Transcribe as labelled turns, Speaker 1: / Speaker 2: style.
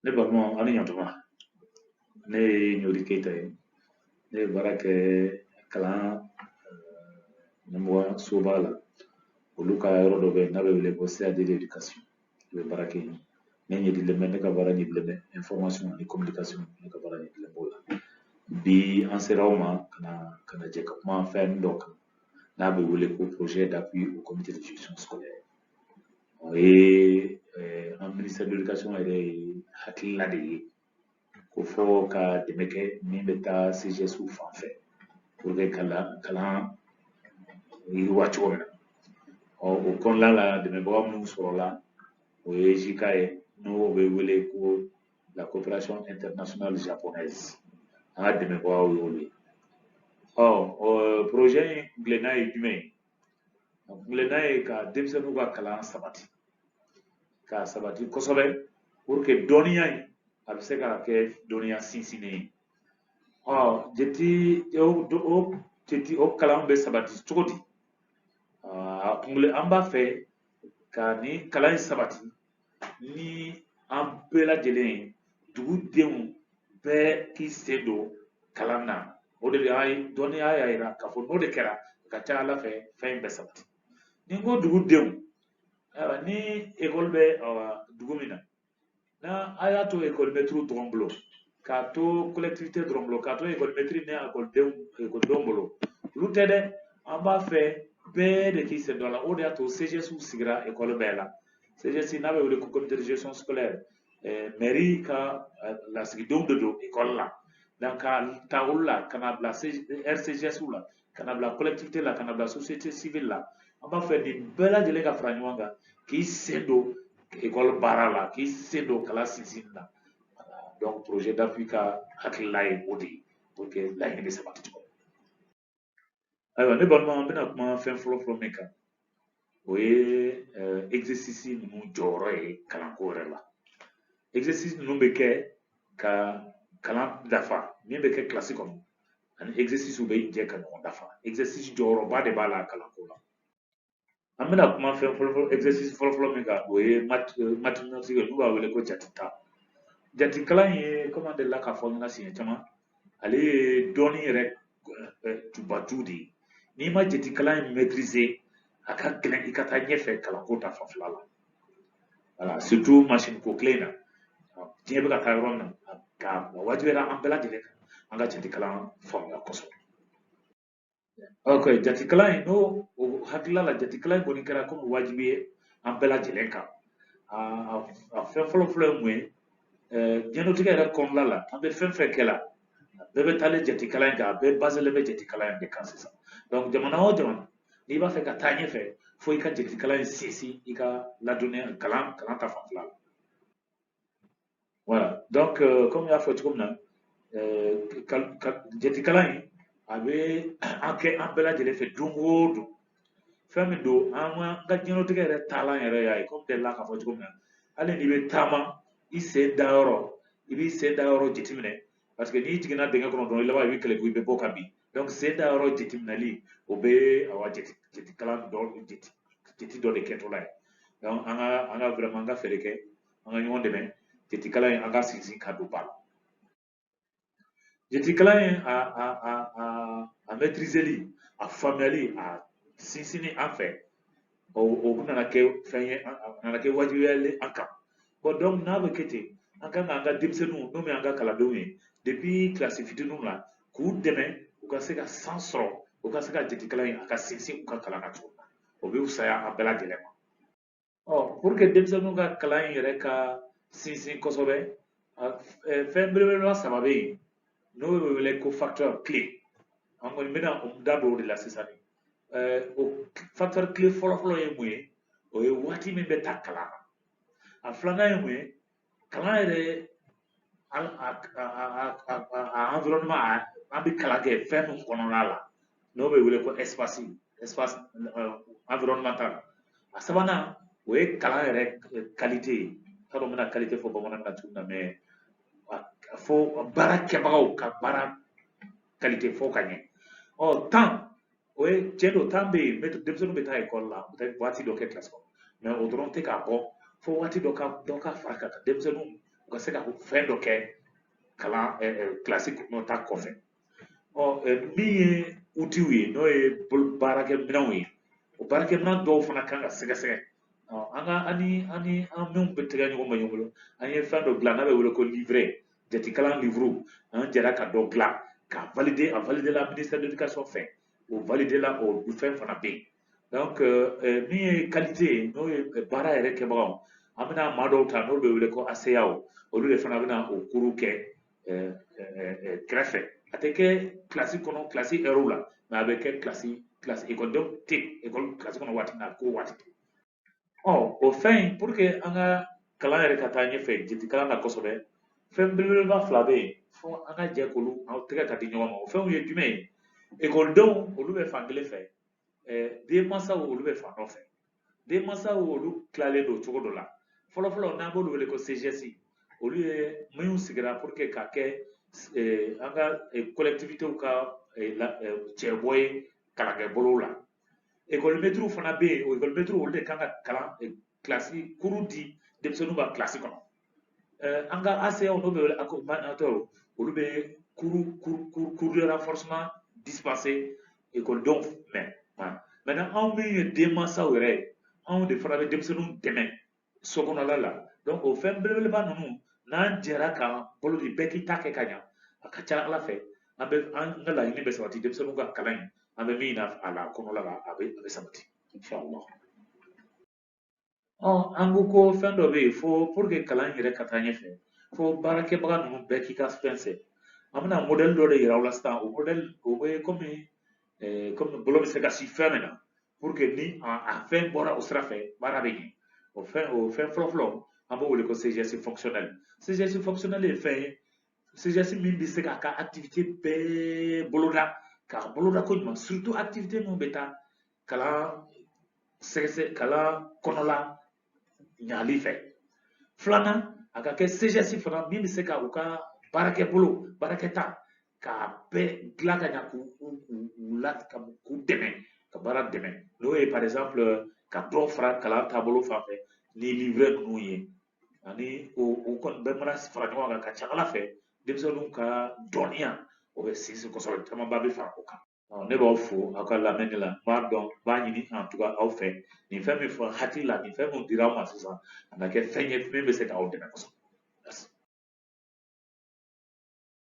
Speaker 1: ne balima aw ni ɲantuma ne ye ɲori keyita ye ne bɛ baara kɛ kalan ɲɛmɔgɔ soba la olu ka yɔrɔ dɔ bɛ n'a bɛ wele ko CAD de l'éducation n bɛ baara kɛ yen ne ɲɛdilen bɛ ne ka baara ɲɛdilen bɛ information ani communication ne ka baara ɲɛdilen b'o la bi an sera aw ma ka na ka na jɛ ka kuma fɛn dɔ kan n'a bɛ wele ko projet d'appui au comité de gestion scolaire o ye an ministère de l'éducation yɛrɛ hakilina de ye ko fɔ ka dɛmɛ kɛ min bɛ taa CGSw fan fɛ pour que ka kalan yiriwa cogo min na ɔ o kɔnɔna la dɛmɛbaga minnu sɔrɔla o ye JICA ye n'o bɛ wele ko la coopération internationale japonaise an ka dɛmɛbagaw y'olu ye ɔ o projet in kuntilenna ye jumɛn ye a kuntilenna ye ka denmisɛnninw ka kalan sabati k'a sabati kosɛbɛ pour que dɔnniya in a bɛ se ka kɛ dɔnniya sinsinnen ye ɔ jate o jate o kalan bɛ sabati cogo di a kuntilenna an b'a fɛ ka nin kalan in sabati ni an bɛɛ lajɛlen ye dugu denw bɛɛ k'i sen don kalan na o de y'a ye dɔnniya y'a yira k'a fɔ n'o de kɛra a ka ca a la fɛ fɛn in bɛ sabati ni n ko dugu denw ayiwa ni ekɔli bɛ dugu min na n'a a y'a to ekɔlimɛtiriw dɔrɔn bolo k'a to collectivité dɔrɔn bolo k'a to ekɔlimɛtiri ni ekɔlidenw ekɔlidenw bolo olu tɛ dɛ an b'a fɛ bɛɛ de k'i sen don a la o de y'a to CGSw sigira ekɔli bɛɛ la CGS n'a bɛ wele ko comité de gestion scolaire mɛri ka lasigidenw de don ekɔli la donc ka ta olu la ka na bila RCGS la ka na bila collectivité la ka na bila société civile la an b'a fɛ nin bɛɛ lajɛlen ka fara ɲɔgɔn kan k'i sen don ekɔli baara la k'i sen don kalan sinsinni na donc projet d'appui ka hakilila ye o de ye pour que laɲini bɛ sabati cogo min ayiwa ne balima an bɛna kuma fɛn fɔlɔ fɔlɔ min kan o ye euh, exercice ninnu jɔyɔrɔ ye kalanko yɛrɛ la exercice ninnu bɛ kɛ ka kalan dafa min bɛ kɛ kilasi kɔnɔ ani exercice bɛ jɛ ka ɲɔgɔn dafa exercice jɔyɔrɔba de b'a la kalanko la an bɛna kuma fɛn fɔlɔfɔlɔ exercice fɔlɔfɔlɔ min kan o ye mathématique ye n'u b'a wele ko jate ta jate kalan ye kɔmi an delila k'a fɔ ɲɛna siɲɛ caman ale ye dɔnni yɛrɛ tubaju de ye n'i ma jate kalan in maîtriser a ka gɛlɛn i ka taa ɲɛfɛ kalanko ta fanfɛla la voilà surtout masini ko kile in na diɲɛ bɛ ka taa yɔrɔ min na a wajibiyara an bɛɛ lajɛlen kan an ka jate kalan faamuya kosɛbɛ ok jatikalan in n'o hakilila la jatikalan in kɔni kɛra komi wajibi ye an bɛɛ lajɛlen kan a fɛn fɔlɔ fɔlɔ ye mun ye diɲɛnatigɛ yɛrɛ kɔnɔna la an bɛ fɛn fɛn kɛ la a bɛɛ bɛ taalen jatikalan in kan a bɛɛ baselen bɛ jatikalan in de kan sisan donc jamana o jamana n'i b'a fɛ ka taa ɲɛfɛ fo i ka jatikalan in sinsin i ka la dɔnniya kalan ta fanfɛla la voilà donc euh, comme n y'a fɔ cogo min na euh, jatikalan in a bɛ kɛ an bɛɛ lajɛlen fɛ don o don fɛn min don an ka diɲɛlatigɛ yɛrɛ taalan yɛrɛ y'a ye komi delila k'a fɔ cogo min na hali n'i bɛ taama i sen da yɔrɔ i b'i sen da yɔrɔ jateminɛ parce que n'i jiginna dingɛ kɔnɔ dɔrɔn i laban i bɛ kɛlɛku i bɛ bɔ ka bin donc sen da yɔrɔ jateminɛli o bɛ awa jate jatekalan dɔ jate jate dɔ de kɛtɔla ye donc an ka an ka vraiment an ka fɛɛrɛ kɛ an ka ɲɔgɔn dɛmɛ jatikalan in an ka sinsin ka don ba la jatikalan in a a a a a maîtriseli a faamuyali a sinsinni an fɛ o o nana kɛ fɛn ye a nana kɛ wajibiyalen an kan bon donc n'a bɛ kɛ ten an kan k'an ka denmisɛnninw n'o ye an ka kalandenw ye depuis kilasi fitininw la k'u dɛmɛ u ka se ka chance sɔrɔ u ka se ka jatikalan in a ka sinsin u ka kalan na cogo min na o bɛ fisaya an bɛɛ lajɛlen ma ɔ pour que denmisɛnninw ka kalan in yɛrɛ ka sinsin kosɛbɛ fɛn belebeleba saba bɛ yen n'o bɛ wele ko facteur clé an kɔni bɛna o da don o de la sisan o facteur clé fɔlɔfɔlɔ ye mun ye o ye waati min bɛ ta kalan na a filanan ye mun ye kalan yɛrɛ a environnement a an bɛ kalan kɛ fɛn min kɔnɔna la n'o bɛ wele ko espace espace environnemental a sabanan o ye kalan yɛrɛ qualité ye n t'a dɔn n bɛna qualité fɔ bamanankan na cogo min na mais fo baara kɛbagaw ka baara qualité fɔ ka ɲɛ ɔ temps o ye tiɲɛ don temps bɛ yen mais denmisɛnninw bɛ taa ekɔli la u bɛ taa waati dɔ kɛ kilasi kɔnɔ mais o dɔrɔn tɛ k'a bɔ fo waati dɔ ka dɔ ka fara a kan denmisɛnninw u ka se ka fɛn dɔ kɛ kalan kilasi kɔnɔ ta kɔfɛ ɔ min ye utiw ye n'o ye baarakɛminɛnw ye o baarakɛminɛn dɔw fana kan ka sɛgɛsɛgɛ an ka ani ani an minnu bɛ tɛgɛ ɲɔgɔn ma ɲɔgɔn bolo an ye fɛn dɔ dilan n'a bɛ wele ko livre jatikalan livre an jɛra ka dɔ dilan k'a valide a validela ministère de l'éducation fɛ o validela o fɛn fana bɛ yen donc euh, euh, min ye qualité ye n'o ye euh, baara yɛrɛ kɛbagaw an bɛna maa dɔw ta n'o bɛ wele ko aseyaw olu de fana bɛna o kuru kɛ kɛrɛfɛ a tɛ kɛ kilasi kɔnɔ kilasi ɛriw la mais a bɛ kɛ kilasi kilasi ekɔlidenw tɛ ekɔli kilasi kɔnɔ waati min na ko waati ɔ o fɛn in pour que an ka kalan yɛrɛ ka taa ɲɛfɛ jatekalan na kosɛbɛ fɛn belebeleba fila bɛ yen fo an ka jɛ k'olu aw tɛgɛ ka di ɲɔgɔn ma o fɛnw ye jumɛn ye ekɔlidenw olu bɛ fan kelen fɛ denmansaw olu bɛ fan dɔ fɛ denmansaw olu tilalen don cogo dɔ la fɔlɔfɔlɔ n'an b'olu wele ko CGS olu ye minnu sigira pour que ka kɛ an ka collectivitéw ka cɛbɔ ye kalankɛbolow la ekɔlimɛtiriw fana bɛ yen o ekɔlimɛtiriw olu de kan ka kalan kilasi kuru di denmisɛnninw ma kilasi kɔnɔ an ka ACAw n'o bɛ wele accompagnateur olu bɛ cours de renforcement dispenser ekɔlidenw ma maintenant anw min ye denmansaw yɛrɛ ye anw de fana bɛ denmisɛnninw dɛmɛ so kɔnɔla la donc o fɛn belebeleba ninnu n'an jɛra k'an bolo di bɛɛ k'i ta kɛ ka ɲa a ka ca ala fɛ an bɛ an ka laɲini bɛ sabati denmisɛnninw ka kalan in an bɛ min na a la kɔnɔla la a bɛ a bɛ sabati inshallah ɔ an ko ko fɛn dɔ bɛ yen fo pour que kalan in yɛrɛ ka taa ɲɛfɛ fo baarakɛbaga ninnu bɛɛ k'i ka fɛn sɛ an bɛna modɛli dɔ de yira aw la sisan o modɛli o bɛ kɔmi eh, comme bolo bɛ se ka si fɛn min na pour que ni a fɛn bɔra o sira fɛ baara bɛ ɲɛ o fɛn o fɛn fɔlɔfɔlɔ an b'o wele ko CGS fonctionnel CGS fonctionnel ye fɛn ye CGS min bɛ se k'a ka activité bɛɛ boloda k'a boloda koɲuman surtout activité minnu bɛ taa kalan sɛgɛsɛ kalan kɔnɔla ɲali fɛ filanan a ka kɛ CGS fana min bɛ se ka u ka baarakɛbolo baarakɛta k'a bɛɛ dilan ka ɲa k'u u u u la ka k'u dɛmɛ ka baara dɛmɛ n'o ye par exemple ka dɔ fara kalan taabolo fan fɛ ni livre ninnu ye ani o o kɔni bɛɛ mana fara ɲɔgɔn kan ka ca ala fɛ denmisɛnninw ka dɔnniya o bɛ sinsin kosɛbɛ camanba bɛ fara o kan ne b'aw fo aw ka lamɛnni la n b'a dɔn n b'a ɲini en tout cas aw fɛ nin fɛn min fɔ hakilila nin fɛn min dira aw ma sisan a na kɛ fɛn ye min bɛ se k'aw dɛmɛ kosɛbɛ